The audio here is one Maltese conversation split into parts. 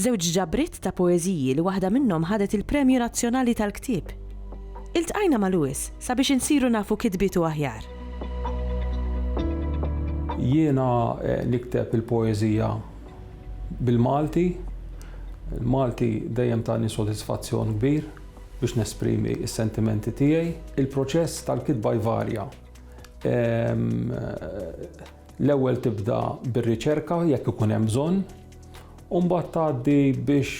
Żewġ ġabriet ta' poeżiji li waħda minnhom ħadet il-Premju Nazzjonali tal-Ktieb. Iltqajna ma' Louis sabiex insiru nafu kitbietu aħjar. Jiena nikteb il-poeżija bil-Malti. Il-Malti dejjem tani sodisfazzjon kbir biex nesprimi s-sentimenti tiegħi. Il-proċess tal-kitba jvarja. L-ewwel tibda bir-riċerka jekk ikun hemm bżonn, u mbagħad tgħaddi biex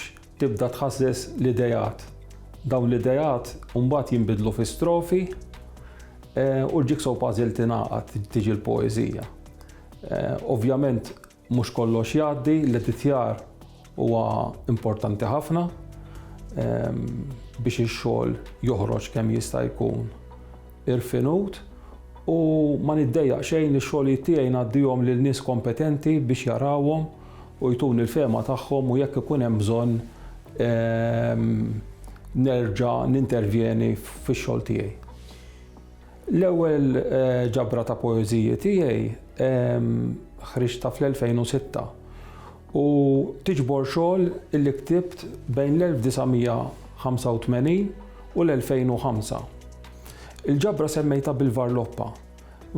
tibda tħasses l-ideat. Dawn l-ideat mbagħad jinbidlu fi strofi u l-jigsaw puzzle tingħaqad tiġi l-poeżija. Ovvjament mhux kollox jgħaddi, l-editjar Huwa importanti ħafna ehm, biex ix-xogħol joħroġ kemm jista' jkun irfinut u ma niddejjaq xejn li x-xogħlijiet tiegħi ngħaddihom lil nies kompetenti biex jarawhom u jtuni l-fema tagħhom u jekk ikun hemm bżonn ehm, nerġa' nintervjeni fix-xogħol tiegħi. L-ewwel ġabra ta' poeżiji tiegħi ħriġtha fl-2006 u tiġbor xogħol li ktibt bejn l-1985 u l-2005. Il-ġabra semmejtha bil-varloppa.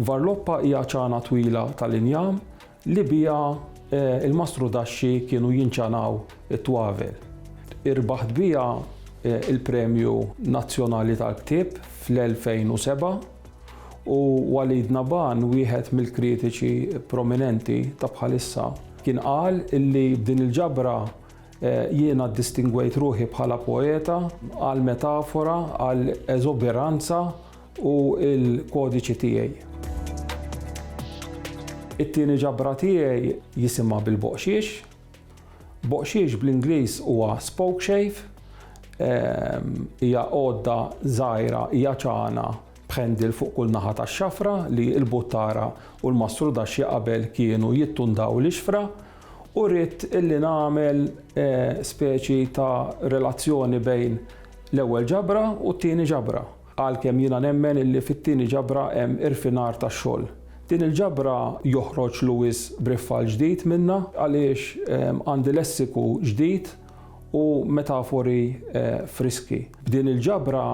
Varloppa hija ċana twila tal-injam li biha l-mastrudaxxi kienu jinċanaw it-twavel. Irbaħt biha l-Premju Nazzjonali tal-Ktieb fl-2007 u Walid Naban, wieħed mill-kritiċi prominenti ta' bħalissa, kien qal li b'din il-ġabra jiena ddistingwejt ruħi bħala poeta għall-metafora, għall-eżuberanza, u l-kodiċi tiegħi. It-tieni ġabra tiegħi jisimha bil-boqxiex. Boqxiex bl-Ingliż huwa spoke shave. Ehm, hija għodda żgħira hija ċana b'ħendil fuq kull naħa tax-xafra li l-buttara u l-mastrudaxxi qabel kienu jittundaw l-ixfra u rrid illi nagħmel eh, speċi ta' relazzjoni bejn l-ewwel ġabra u t-tieni ġabra. Għalkemm jiena nemmen illi fit-tieni ġabra hemm irfinar tax-xogħol. Din il-ġabra joħroġ Lewis b'riffall ġdid minnha għaliex għandi lessiku ġdid u metafori friski. B'din il-ġabra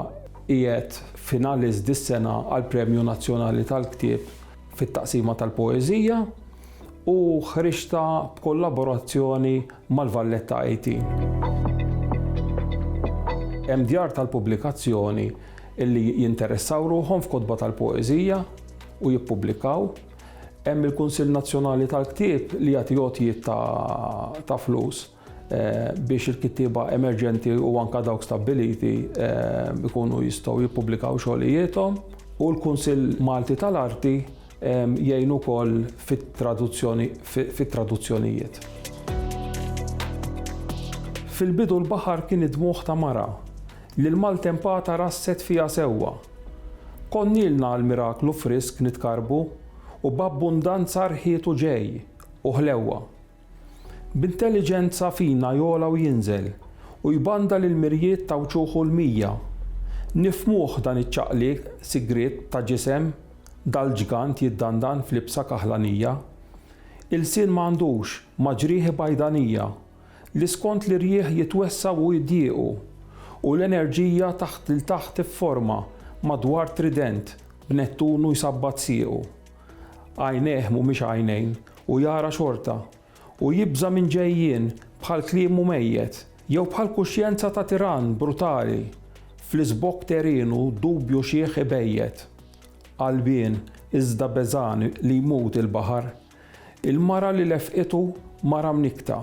qiegħed finalist dis-sena għall-Premju Nazzjonali tal-Ktieb fit-taqsima tal-poeżija. u ħriġtha b'kollaborazzjoni mal-Valletta IT. Hemm djar tal-pubblikazzjoni li jinteressaw ruħhom f'kotba tal-poeżija u jippubblikaw. Hemm il-Kunsill Nazzjonali tal-Ktieb li jagħti għotjiet ta' flus. eh, biex il-kittieba emerġenti u anka dawk stabbiliti eh, ikunu jistgħu jippubblikaw xogħlijiethom u l-Kunsill Malti tal-Arti eh, jgħin ukoll fit-traduzzjonijiet. Fil-bidu l-baħar kien id-dmuħ ta' mara li l-maltempata rasset fija sewwa. Konnilna għal-miraklu frisk nitkarbu u b'abbundanza rħietu ġej u ħlewwa. B'intelliġenza fina jogħla u jinżel, u jbanda lill-mirjiet ta' wċuħu l-mija. Nifhmuh dan iċ-ċaqliq sigriet ta' ġisem, dal-ġgant jiddandan f'libsa kaħlanija. Ilsien m'għandux, ma' ġrieħi bajdanija, li skont l-irjieħ jitwessgħu u jdiequ, u l-enerġija taħt 'l taħt ifforma madwar trident b'Nettunu jsabbat siequ. Għajnejh mhumiex għajnejn, u jara xorta. U jibża' minn ġejjien, bħal kliemu mejjet. Jew bħal kuxjenza ta' tirann brutali, fl-iżbokk terinu dubju xiħ ibejjet. Qalbien, iżda beżgħan li jmut il-baħar. Il-mara li lefqitu, mara mnikkta.